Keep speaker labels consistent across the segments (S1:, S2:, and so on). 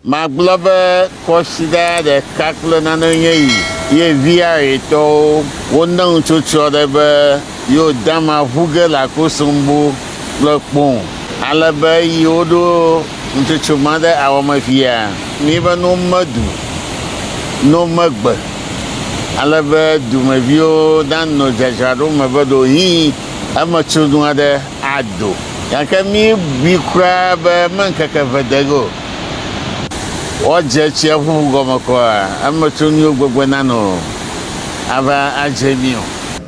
S1: Magblɔ be kɔsiɖa ɖeka kple nane nye yi ye viaɣetɔwo wo neŋ tso tsyɔ ɖe be yo dama ʋu ge le akosombo kple kpoŋ ale be yi wo ɖo ŋtsotso ma ɖe awɔ me via mi be no me du no me gbe ale be dumeviwo na no dzadzraɖo me be ɖo hii eme tso nua ɖe ado. Gake míebui kura be meŋkeke eve de ege o, woadze tsiaƒu gɔme kɔa eme tso míwo gbegbe nano ava adze mí o.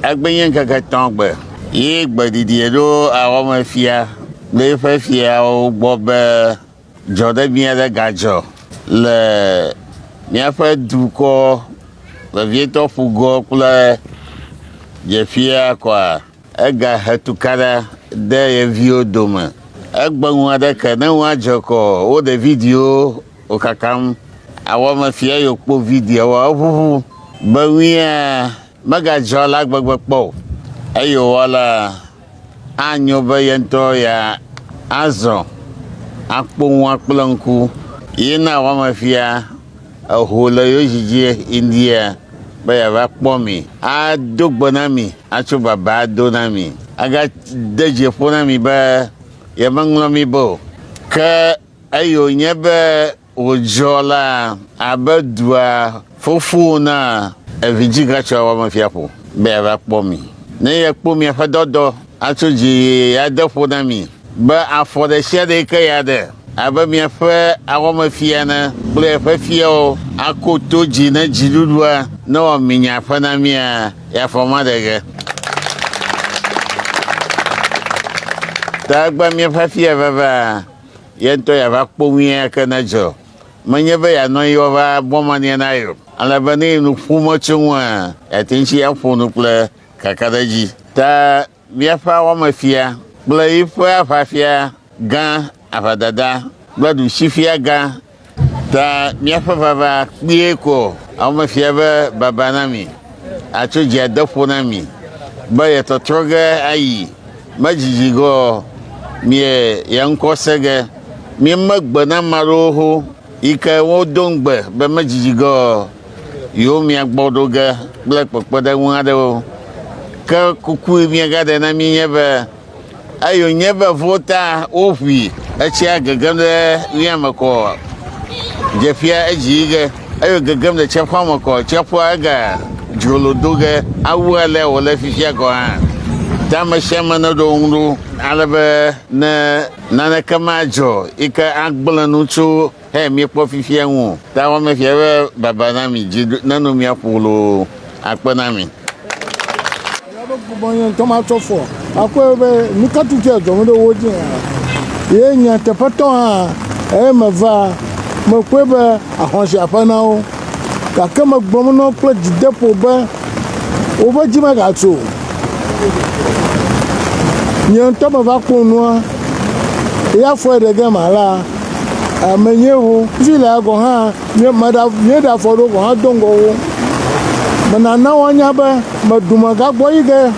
S1: Egbenye ŋkeke etɔ̃ gbe ye gbe ɖiɖiɛ ɖo awɔme fia le eƒe fiawo gbɔ be dzɔɖebi aɖe gadzɔ le míaƒe dukɔ vevietɔ ƒugɔ kple dzeƒia kɔa, Egahe tukaɖa de ye viwo dome. Egbe ŋu aɖe ke ne ŋua dze kɔ wo ɖe video wo kakam awɔ me fia ye wokpɔ video wa eʋuʋu be ŋuia mega dzɔ la gbegbe kpɔ o eye wowɔ la anyo be ye ŋutɔ ya azɔ akpɔ ŋua kple ŋku ye na awɔ me fia Eho le yo dzi dzi ŋdia be yeava kpɔ mi, ado gbe na mi, atso baba ado na mi, agade dzi ƒo na mi be yemeŋlɔ mi be o. Ke eyi wònye be wòdzɔ la abe dua fofo na evidzĩ gatsɔa wɔmefia ƒo be yeava kpɔ mi, ne yekpɔ miaƒe dɔdɔ. Atso dzi ade ƒo na mi, be afɔ ɖe sia ɖe yi ke yeaɖe, abe miaƒe awɔmefia ene, kple eƒe fiawo, ako to dzi ne dziɖuɖua newɔ minya ƒe na mia, yeafɔ ma ɖe ge. Ta egbea míaƒe afia vava, ye ŋutɔ yeava kpɔ nu ya ke nedzɔ, menye be yeanɔ anyi woava bɔ mania na ye o, ale be ne ye nu ƒom etso ŋua, yeate ŋu tsi aƒo nu kple kakaɖedzi ta míaƒe awɔmefia kple yiƒe aʋafia gã, aʋadada kple ɖusifia gã ta míaƒe vava kpuie ko awɔmefia be baba na mi, atso dzi ade ƒo na mi be yetɔtrɔ ge ayi, medzidzi ge ɔ, mie ye ŋkɔ se ge, mieme gbe na ame aɖewo ho. Yi ke wodo ŋugbe be medidi ge o, yewo mia gbɔ ɖo ge kple kpekpeɖeŋu aɖewo. Ke kuku yi miegaɖe na mí nye be, eyo nye be vo ta woʋui etsia gegem ɖe ɣia me kɔ ɔ, dzeƒia edzi yi ge, eyo gegem ɖe tsiaƒua me kɔ ɔ, tsiaƒua ega dzrolo do ge awu alea wòle fifia gɔ̃ hã. Tamesiame neɖo ŋu ɖo ale be ne. Naneke madzɔ yi ke agblẽ nu tso xeya miekpɔ fifia ŋu o. Tawɔmefia be baba na mi, dzi neno mia ƒo loo akpe na mi. Eya be bubɔ
S2: nye ŋutɔ matsɔ fɔ akɔe be nuka tutu adzɔ ŋu ɖe wo dzi hã. Ye nyateƒetɔ hã eye meva, mekpɔe be ahɔ̃ si aƒe na wo. gake megblɔm na wo kple dzideƒo be, Woƒe dzi megatso o. Nye ŋutɔ meva kpɔ nua, eya fɔe ɖe gema alea, menye wo. Fi lea gɔ̃ hã, míeɖe afɔ ɖewo gɔ̃ hã do ŋgɔ wo. Menana woanya be meɖu megagbɔ yi ge.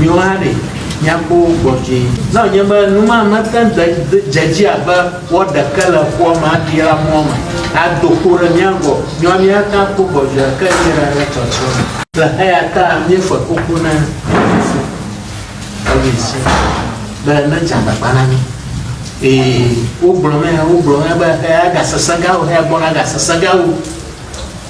S3: Miwo hã ɖe miakpɔ wo gbɔ vie. Ne wònye be nu ma mete ŋu de dze edzi abe woaɖe ke le ƒua me aɖi la mɔ me ado kpo ɖe mía gbɔ o. Míawo míate ŋu akpɔ gbɔ vie ke míeɖe le tsɔtsrɔ̃ me. Le eyata míeƒe kuku na Fofo Elvis be nedze agbagba na mí. Eye wogblɔ nɛ, wogblɔ nɛ be eya agasesẽ gã wu, eya gbɔna agasesẽ gã wu.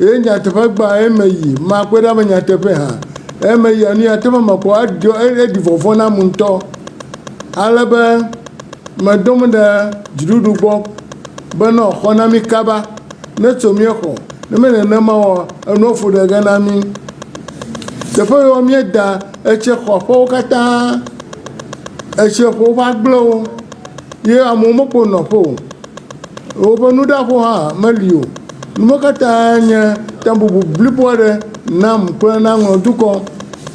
S2: Eye nyateƒe gbã eme yi, makpɔe ɖa be nyateƒee hã. Eme yia, nu ya teƒe mekpɔ eɖɔ, eɖi vɔvɔ̃ nam ŋutɔ. Ale be meɖo ŋu ɖe dziɖuɖu gbɔ be ne wòaxɔ na mí kaba, ne tso míexɔ. Ne menye nenema oa, enua fu ɖe ge na mí. Teƒe yi wɔ míeda etseƒoaƒewo katã, etseƒowo ƒe agblewo ye amewo mekpɔ nɔƒe o. Woƒe nuɖaƒo hã meli o. Nu ma katã nye tabubu blibo aɖe nam kple na ŋlɔ dukɔ.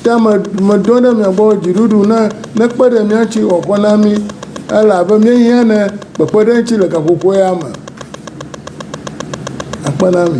S2: Ta me, medɔ ɖe mia gbɔ dziɖuɖu ne nekpe ɖe mía ŋuti wòakɔ na mí. Ele abe míehiã ne kpekpeɖeŋutsi le gaƒoƒo ya me akpe na mí.